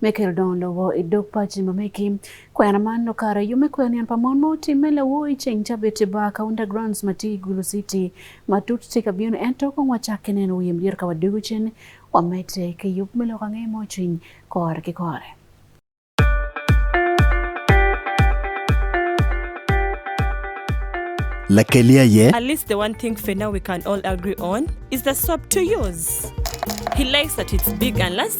Michael Don Lowo i dog paci ma meki kwena man no kare yume kwen yan pa mon ma otimme lawoi ceng ca bete ba ka undergrounds ma ti i Gulu City ma tut ti ka bino ento kong wacakke neno wiye mdyere ka wadugu cen wamete ki yub me loko angeye mo cwiny kore ki kore. Lakeli aye. At least the one thing for now we can all agree on is the swap to use. He likes that it's big and last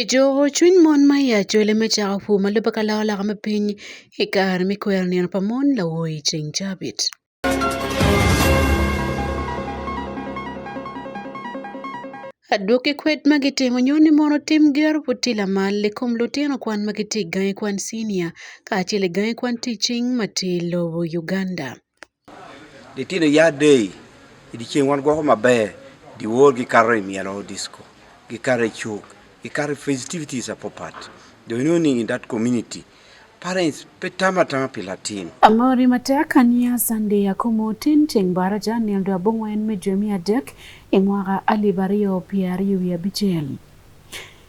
I joko cwiny mon ma i acwele me cako pur ma lubbe ka loko loka me piny i kare me kwero nino pa mon lawo i ceng cabit. Adwoki kwed ma gitimo nyo ni mono tim gero pud ti lamal i kom lutino kwan ma gitye i gangi kwan cinia kacel i gangi kwan ticing ma tye i lobo Uganda. Litino ya day idichieng wan gwako maber diwor gi karo e mielo disco gi karo e chuk gi karo festivities apo pat do you know in that community parents pe tama tama pi latin amori matek ania sande ya komo tin cheng bara ja nil do abongo en me jemi adek e mwaka alibario piari wi abichel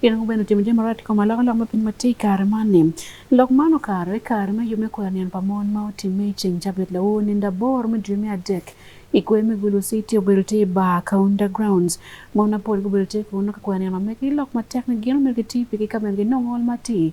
Pien ango bene timo jami marach i kom aloko lok me piny ma tye i kare man-ni? Lok man okato i kare me yub me kwero niang pa mon ma otimme i ceng Cabit lawo ninde aboro me dwe me adek. I kwer me Gulu City obedo tye i bar Kaunda Grounds. Mon mapol gubedo tye kunu ka kwero niang ma megi lok matek ni gin omyero giti pigi ka bene ginongo ol matir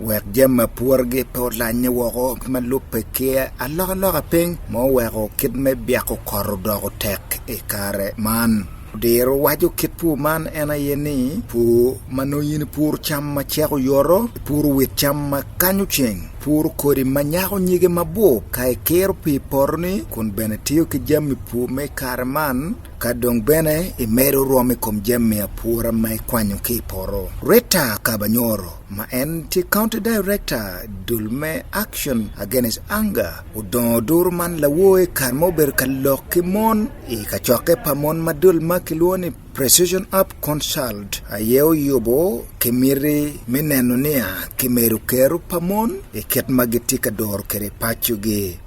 wek jam ma pworogi pe olanye woko ma lubbe kiya alokaloka piny ma oweko kit me byeko kot odoko tek i kare man diro waco kit pur man en aye ni pur ma nongo in pur cam ma ceko yoro pur wit cam ma kanyo ceng pur kodi ma nyako nyige mabor ka ikiro pi poroni kun bene tiyo ki jami pur me kare man ka dong bene imedo rwom i kom jami apura ma ikwanyo ki i poro rita kabanyoro ma en tye county director dul me action against anger odongo duru man lawoye kar ma obedo ka lok ki mon i kacokke pa mon ma dul ma kilwongo ni precision up consult aye oyubo ki miti me neno niya kimedo kero pa mon i kit ma gitye ka doro kwede pacogi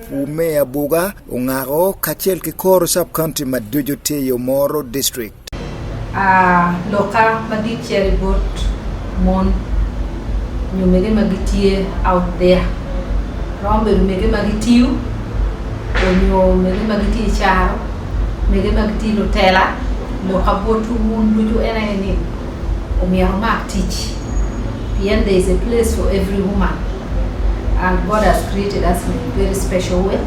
Umeya Buga, Ong'ago kaachiel gi kor sub county ma Dujo Teyo Moro district. Ah, loka ma gichiel got mon nyumege ma gitie out there rombe rumege ma gitiu onyo mege ma gitie charo mege ma gitie lutela loka bot un duto en aye ni omyero omak tich pien there is a place for every woman And God has created us in a very special way.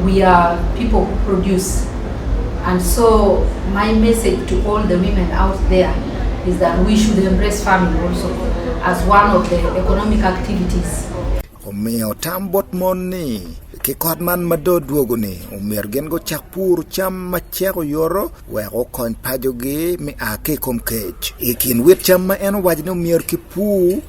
We are people who produce. And so my message to all the women out there is that we should embrace farming also as one of the economic activities. Omiyo tam bot mon ni kikot man ma do dwogo ni omyero gin gucak pur cam ma cek oyoro wek okony pajogi mi a ki i kom kec i kin wit cam ma en owaco ni omyero kipur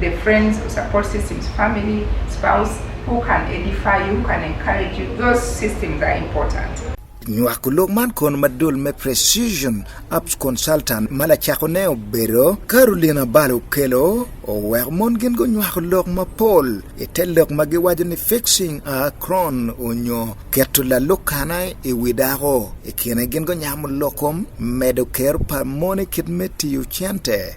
The friends or support systems, family, spouse, who can edify you, who can encourage you, those systems are important. nywako lok man kon madul me precision apps consultant ma lacako ne obedo carolina balo okelo oweko mon gin gunywako lok mapol i te lok ma giwaco ni fixing a cron onyo keto lalukana i wi dako i kine gin gunyamo lokom medo kero pa mon i kit me tiyo cente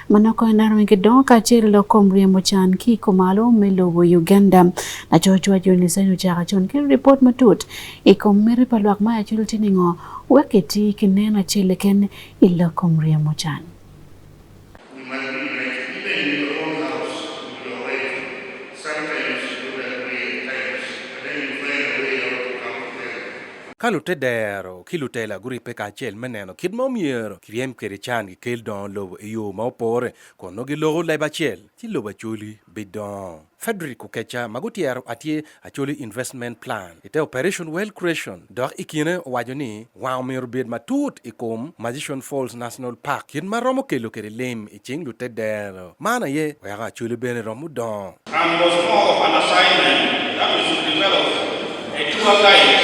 Mano ko en Armageddon kaachiel gi kom riembo chan kiko malo me lobo Uganda. Nachoch wach jo Nyasaye ochaka chon kendo ripot matut e kom mere pa lwak ma achul tining'o weketi kineno achiel ken ilo kom riembo chan. Ka lute dero ki lutela guripe kacel me neno kit ma omyero kiryem kwede can Kel dongo lobo i yo ma opore, kun nongo giloko leb acel, ci lobo acoli bidongo. Frederick Okecha ma gutyero atye Acholi Investment Plan i te Operation Wealth Creation dok i kine owaco ni wang omyero obed matut i kom Magician Falls National Park kit ma romo kelo kwede lim i cing lute dero. Man aye weko Acholi bene romo dongo. and was more of an assignment that we should develop a tour guide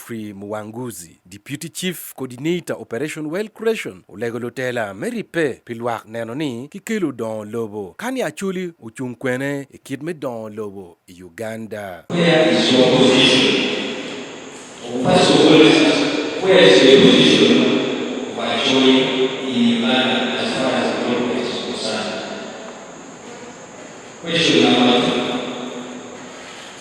Godfrey Muwanguzi, Deputy Chief Coordinator Operation Well Creation, olego lutela me ribbe pi lwak neno ni kikelo dongo lobo kani Acholi ocung kwene i kit me dongo lobo i Uganda. Where is your position? Where is your position?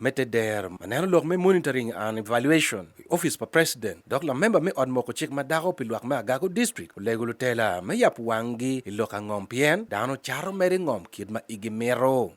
me te dero ma neno lok me monitoring and evaluation i office pa president dok lamemba me ot moko cik ma dako pi lwak me agago district olego lutela me yap wanggi i lok angom pien dano caro mere ngom kit ma igi mito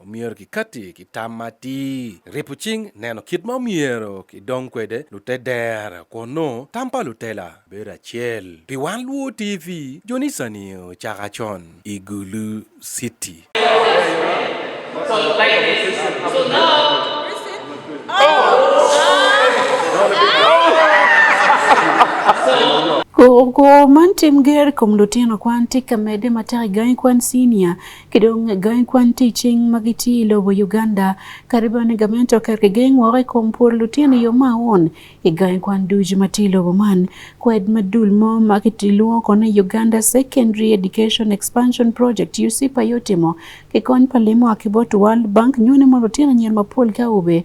Omyero kikati ki tam atir. Ripo cing neno kit ma omyero kidong kwede lute dera kun nongo tam pa lutela bedo acel. Pi wan luwo TV, jonicani ocaka con i Gulu City. Kor man tim ger i kom lutino kwan tye ka medde matek i gangi kwan cinia kidong gang kwan ticing ma gitye i lobo Uganda kadi bene gamente oketo geng woko i kom pwod lutino yo ma aun i gang kwan ducu ma tye i lobo man. Kwed ma dul mo ma kilwongo kono ni Uganda Secondary Education Expansion Project USEPA aye otimo ki kony pa lim oa ki bot World Bank nyone mondo lutino anyira mapol ka aube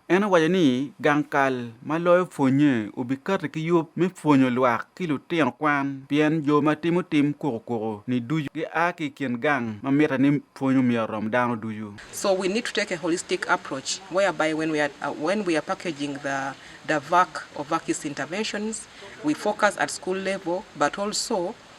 En owaco ni gang kal ma loyo pwonnye obikati ki yub me pwonyo lwak ki lutino kwan pien jo ma timo tim kukukuku ni ducu gia ki i kin gang ma mitte ni pwony omyero orom dano ducu. So we need to take a holistic approach whereby when we are, uh, when we are packaging the, the VAC or VACIS interventions, we focus at school level, but also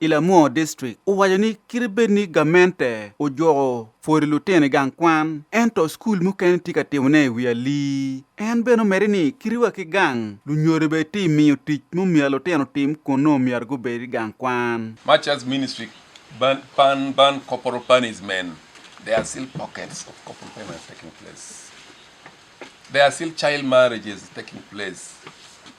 i Lamuo District owaco ni kite bed ni gamente ojuko pwodi lutino i gang kwan ento skul mukene tye ka timone i wi ali. En bene omedi ni kitiwa ki gang lunyodo bene tye miyo tic mumiyo lutino tim kun nongo myero gubed i gang kwan. Much as ministry ban, ban, ban corporal punishment, there are still pockets of corporal punishment taking place. There are still child marriages taking place.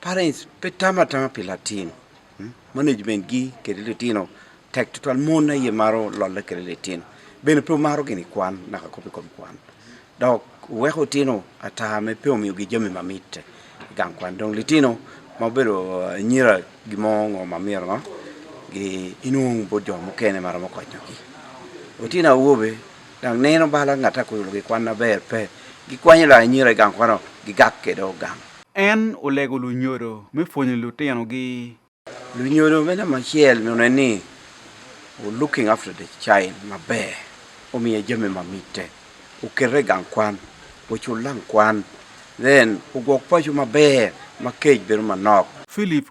Parents, pe tama tama pi latin. Hmm? Management gi kede litino tek tutwal mon aye maro lolle kede litino. Bene pe omaro gini kwan naka kopi kom kwan. Dok weko tino ata me pe omiyo gi jami mamit gang kwan dong litino ma obedo eh, nyira gimo ngo mamiro ngo gi inung bo jo mukene maro mo konyo gi. Otino awobe dang neno bala ngata ko gi kwan na ber pe. Gikwanyo la nyira gang kwano gigak kede ogang. En olego lunyodo me pwonyo lutinogi. Lunyodo me namba achiel none ni looking after the child maber, omiye jami mamite, okerre gang kwan, ochul lang kwan, then ogwok pacho maber ma kej bedo manok. Philip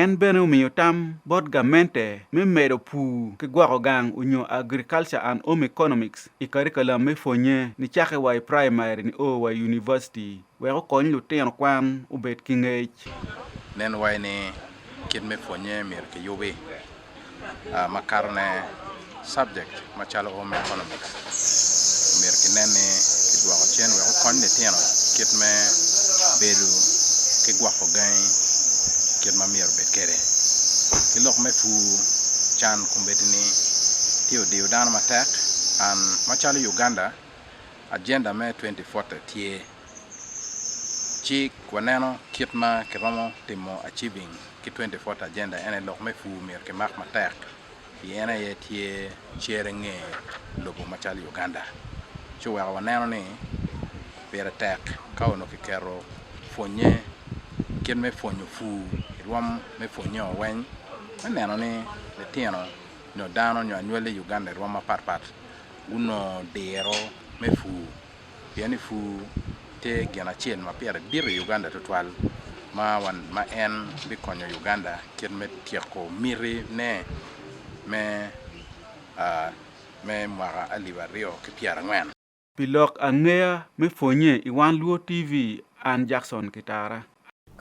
En bene omiyo tam bot gamente me medo pur ki gwoko gang onyo Agriculture and Home Economics i karikalam me pwonye nicake wa i praimari nio wa i univaciti wek okony lutino kwan obed ki ngec. Nen wai ni kit me pwonye myero kiyubi uh, makar ne subject machalo home economics omir kinen ni kidwoko chien wek okony litino kit me bedo ki gwoko gangi kit ma myero bed kede ki lok me pu can kun bedi ni tye odiyo dano matek an macalo uganda agenda me 2040 tye Ci waneno kit ma kiromo timo achieving ki 24 agenda ene lok me pur myero kimak matek pi en aye tye cere nge lobo macalo Uganda ci oweko waneno ni pire tek ka onongo kiketo pwonye kit me pwonyo pur ki rwom me pwonye o weng me neno ni litino nyo dano nyo anywali i Uganda i rwom mapat pat gunongo diro me pur. Pien ni pur tye gin acel ma pire dit i Uganda tutwal ma wan ma en bikonyo Uganda kit me tyeko miti ne me uh, me mwaka alip aryo ki pyera angwen. Pi lok angeya me pwonye i Wan Luo TV, an Jackson Kitara.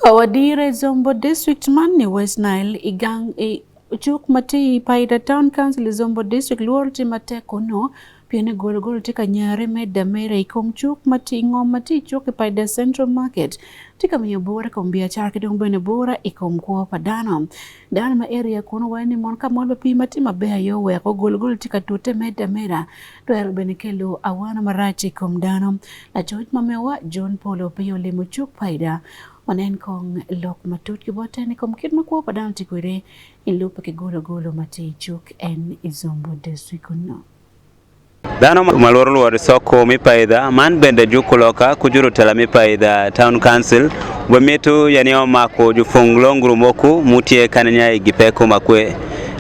Awadire Zombo District man ni West Nile igang i chuk mati Paida Town Council Zombo District luor ti mateko no piene golo golo ti kanyare me damere ikom chuk mati ngom mati chuk i Paida Central Market ti kamiyo bora kom biachara ki dong bene bora ikom kwo pa dano dano ma area kono wani mon ka mon pa pi mati maber yo weko golo golo ti katute me damera Twero bende kelo awano marach e kom dano. Lacoc ma mewa John Paul Opiyo olimo cuk paida onen kong lok matut ki bote ni kom kit makwo pa dano tikwede i lupe ki golo golo ma tye i cuk en i Zombo district kunno. Dhano ma lworo lworo soko mi paidha man bende juko loka kujuru tela mi paidha town council bwe mitu yani omako jufung longru moku mutie kanenya i gipeko makwe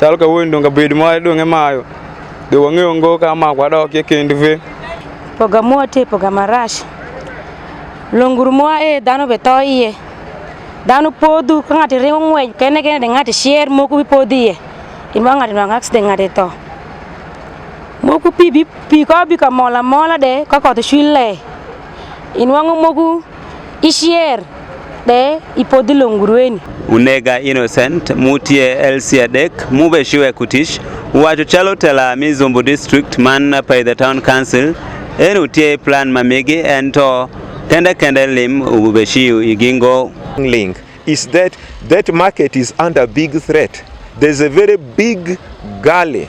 Chal ka wuoyi donga bed ma donge mayo. De wang'e ongo ka ma kwa dok ye kend ve. Poga mo te poga marash. Longuru mo e dano be to iye. Dano podu ka ngati ringo ng'weny kene kene de ngati share mo ku podiye. Inwa ngati nwa ngaks de ngati to. moku pi bi pi ko bi ka mola mola de ka ko to chwille inwango moku Ishier de ipodhi longurweni. Unega innocent mutie elsi adek mube shiwe kutish wacho chalo tela mi Zumbu district man by the town council en utie plan mamigi en to kende kende lim ube shiu igingo link is that that market is under big threat there's a very big gully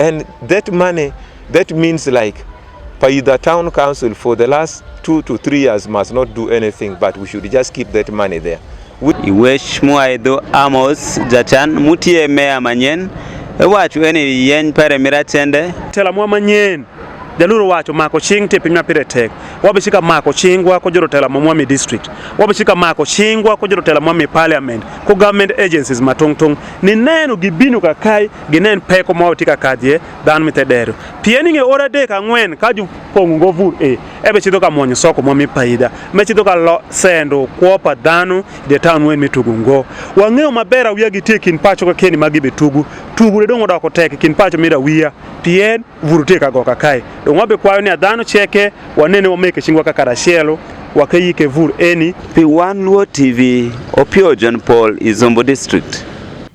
And that money, that means like by the town council for the last two to three years must not do anything, but we should just keep that money there. Iwesh muaidho Amos jachan mutie meya manyen ewacho eni yeny pare mirachende tela mwa manyen jaluru wacho mako ching te piny mapire tek wabishika mako chingwa ko jorotela mwa mi district wabishika mako chingwa ko jorotela mwa mi parliament ko government agencies matong tong ni neno gibinu kakai ginen peko mo tika kadhie dhan mi tedero pieni nge ora de ka ngwen ka ju pongu go vur e ebe chido ka monyo soko mo mi paida me chido ka lo sendo kwo pa dhanu de town wen mi tugu ngo wa ngeo ma bera wiya gi tie kin pacho ka keni magi be tugu tugu de dongo da ko tek kin pacho mi da wiya pien vur te ka go ka kai do ngwa be kwayo ni dhanu cheke wa nene wa meke chingwa ka karashelo wa ke yike vur eni pi wan luo tv opio john paul izombo district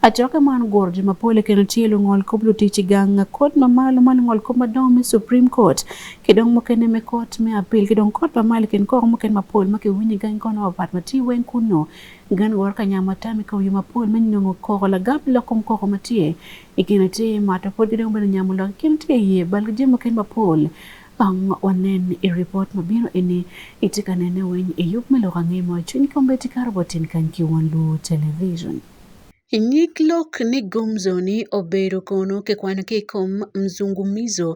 Acokke man guro jo mapol i keno tye lungol kop lutic i gang kot mamalo ma lungol kop madongo me Supreme Court ki dong mukene me kot me apil ki dong kot mamalo kin koko mukene mapol ma kiwinyo i gang kono mapat ma tye weng kunno gan woro kanya matam i kawiyo mapol me nongo koko lagam lok kom koko ma tye i kine tye mato pod ki dong bene nyamo lok i kine tye iye bal ki jami mukene mapol ang wanen i ripot ma bino eni itye ka nene weng i yub me lok angemo cwiny kom bene tye kato bot tin kany ki Won Luo Television. Nyiklok ni Gumzo ni obedo kono kikwano ki i kom mzungumizo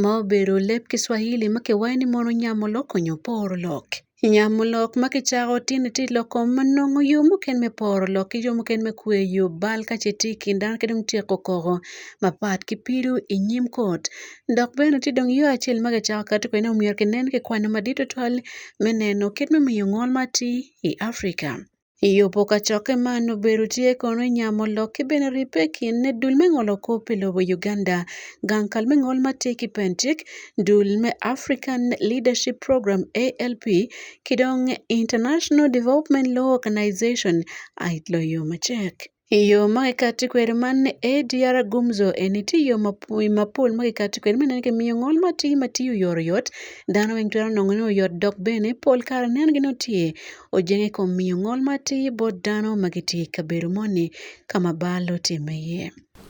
ma obedo leb Kiswahili ma kiwayo ni mono nyamo lok nyo poro lok. Nyamo lok ma kicako tini ti lok kom ma nongo yo mukene me poro lok ki yo mukene me kweyo bal ka ce tye i kin dano ki dong tyeko koko mapat ki pido i nyim kot dok bene tye dong yo acel ma kicako kati kwede ni omyero kinen kikwano madit tutwal me neno kit me miyo ngol ma atir i Africa. Iyopo ka cokke man obedo tye kono i nya molok ki bene ribbe i kin ne dul me ngolo kop pi lobo Uganda. Gang kal me ngol ma tye ki Pentic, dul me African Leadership Program, ALP, ki dong International Development Law Organization, aid loyo macek. Iyo mage kati kweri man ADR gumzo eni ti yo mapol mage kati kweri mene ke miyo ngol ma ti ma ti uyor yot dano weng twero nongo ni uyot dok bene pol kare nen gini utye ojenge kom miyo ngol ma ti bot dano ma gitye i kabedo moni ka ma bal otime iye.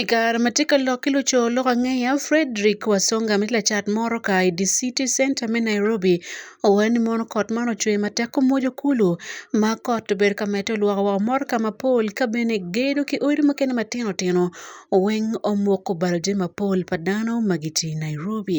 I kare ma tye ka lok ki luco lok angeya Fredrick Wasonga ma tye lacat moro ka i dye citi centa me Nairobi owaco ni mono kot man ocwer matek omwodo kulu ma kot obedo ka medde olwoko woko motoka mapol ka bene gedo ki odi mukene matino tino weng omoko balo jami mapol pa dano ma gitye i Nairobi.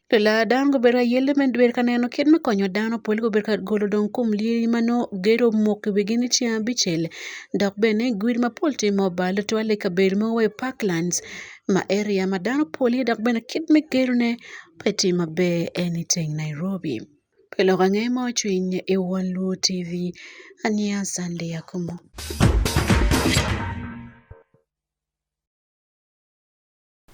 Lela dano gubedo ayelle me bedo ka neno kit me konyo dano pol gubedo ka golo dong kom lyeci ma nongo gedo omoko i wigi ni ceng abicel dok bene gudi mapol tye ma obale tutwal i kabedo mogo wa i parklands ma eriya ma dano pol iye dok bene kit me gedone pe tye maber en iteng Nairobi pe lok ange mo cwiny i won Luo TV aniya Sunday Akumu.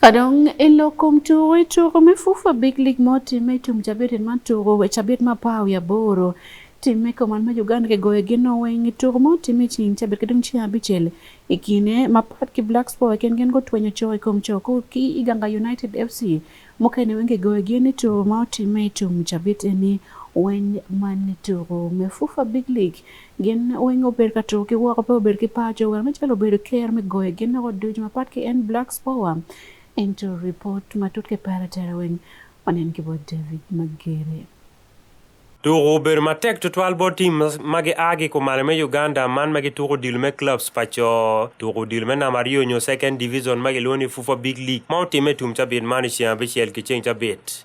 Kadong ilo kom tugo i tugo me fufa big league mo timme i tum cabit in man tugo we cabit ma pao ya boro timme koman ma Uganda ke goyo gin oweng i tugo mo timme cing cabit ke dong cing abicel i kine ma pat ki Black Sport ken gin gutwenyo co i kom co ku ki i Ganga United FC mukene weng ke goyo gin i tugo mo timme i tum cabit eni weng man tugo me fufa big league Gin weng obedo ka tuko ki woko pe obedo ki paco wer me calo obedo ker me goyo gin noko ducu mapat ki en Blacks Power ento report matut ki pere tere weng wanen ki bot David Magere. Tuko obedo matek tutwal bot tim ma gia ki kumalo me Uganda man ma gituko odilo me clubs pa co. Tuko odilo me namba aryo nyo second division ma gilwongo ni FUFA Big League ma otimme i tum cabit man i ceng abicel ki ceng cabit.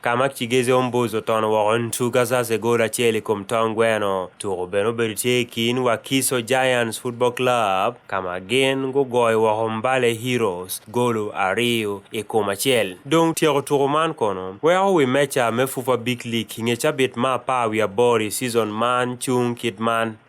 Ka ma Chigeze Ombuzo ton woko in two gasas e gol acel i kom tong gweno, tuko bene obedo tye i kin Wakiso Giants Football Club ka ma gin gugoyo woko Mbale Heroes golo ariyo i kom acel. Dong tyeko tuko man kono weko wi meja me FUFA Big League i nge cabit ma apar wiye aboro i season man cung kit man.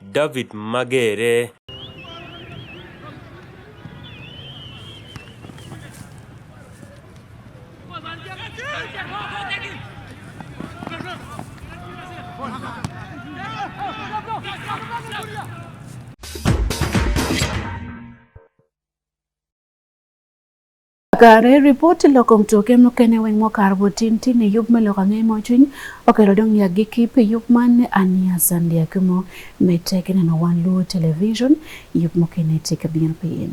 David Magere. Kare ripoti loko mtoke mokene weng mokar botin tini yub me loko ang'e mochuny okelo dong ya gi kip yub man ania sandia kumo meteke neno wan luo television yub mokene tika bien pien.